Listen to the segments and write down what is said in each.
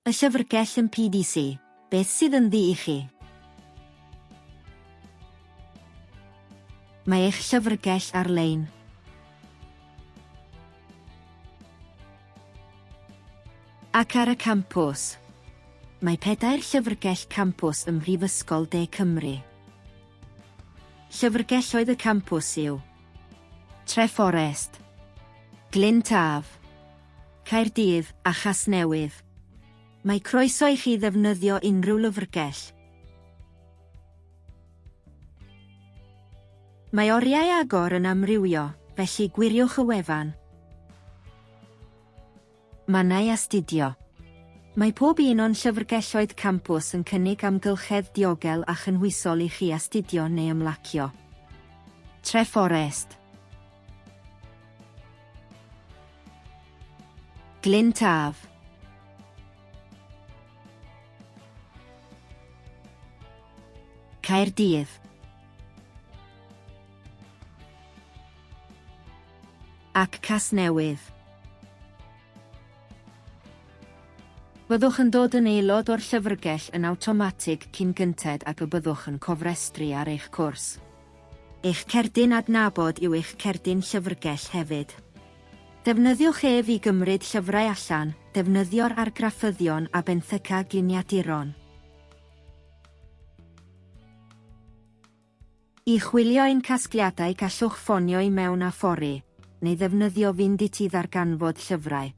Y llyfrgell yn PDC, beth sydd ynddi i chi? Mae eich llyfrgell ar-lein. Ac ar y campws. Mae pedair llyfrgell campws ym Mhrifysgol De Cymru. Llyfrgelloedd y campws yw. Treforest. Glyn Taf. Caerdydd a Chasnewydd. Mae croeso i chi ddefnyddio unrhyw lyfrgell. Mae oriau agor yn amrywio, felly gwiriwch y wefan. Mannau astudio. Mae pob un o'n llyfrgelloedd campws yn cynnig amgylchedd diogel a chynhwysol i chi astudio neu ymlacio. Treforest. Glyn Taf. Caerdydd. Ac Casnewydd. Byddwch yn dod yn aelod o'r llyfrgell yn awtomatig cyn gynted ag y byddwch yn cofrestru ar eich cwrs. Eich cerdyn adnabod yw eich cerdyn llyfrgell hefyd. Defnyddiwch ef i gymryd llyfrau allan, defnyddio'r argraffyddion a benthyca gliniaduron. I chwilio ein casgliadau gallwch ffonio i mewn a phori, neu ddefnyddio Fynd Iti ddarganfod llyfrau.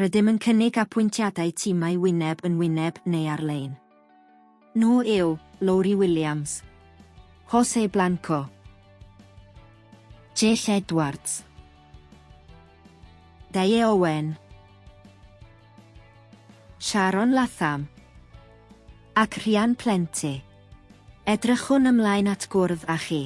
Rydym yn cynnig apwyntiadau timau wyneb yn wyneb neu ar-lein. Nhw yw, Lowri Williams. Jose Blanco. Jeff Edwards. Dayé Owen. Sharon Latham. Ac Rhian Plente. Edrychwn ymlaen at gwrdd â chi.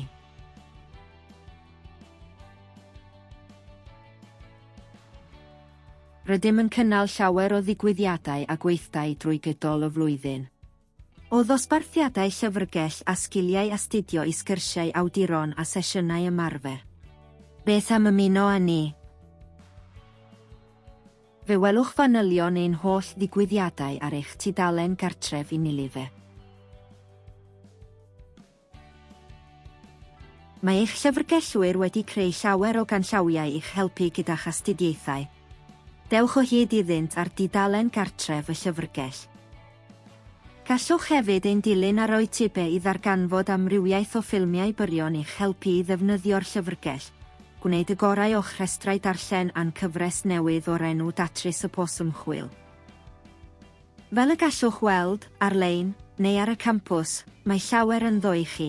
Rydym yn cynnal llawer o ddigwyddiadau a gweithdai drwy gydol y flwyddyn. O ddosbarthiadau llyfrgell a sgiliau astudio i sgyrsiau awduron a sesiynau ymarfer. Beth am ymuno â ni? Fe welwch fanylion ein holl ddigwyddiadau ar eich tudalen gartref Unilever. Mae eich llyfrgellwyr wedi creu llawer o ganllawiau i'ch helpu gyda'ch astudiaethau. Dewch o hyd iddynt ar dudalen gartref y llyfrgell. Gallwch hefyd ein dilyn ar YouTube i ddarganfod amrywiaeth o ffilmiau byrion i'ch helpu i ddefnyddio'r llyfrgell. Gwneud y gorau o'ch rhestrau darllen a'n cyfres newydd o'r enw Datrys y Pwrs Ymchwil. Fel y gallwch weld, ar-lein, neu ar y campws, mae llawer ynddo i chi.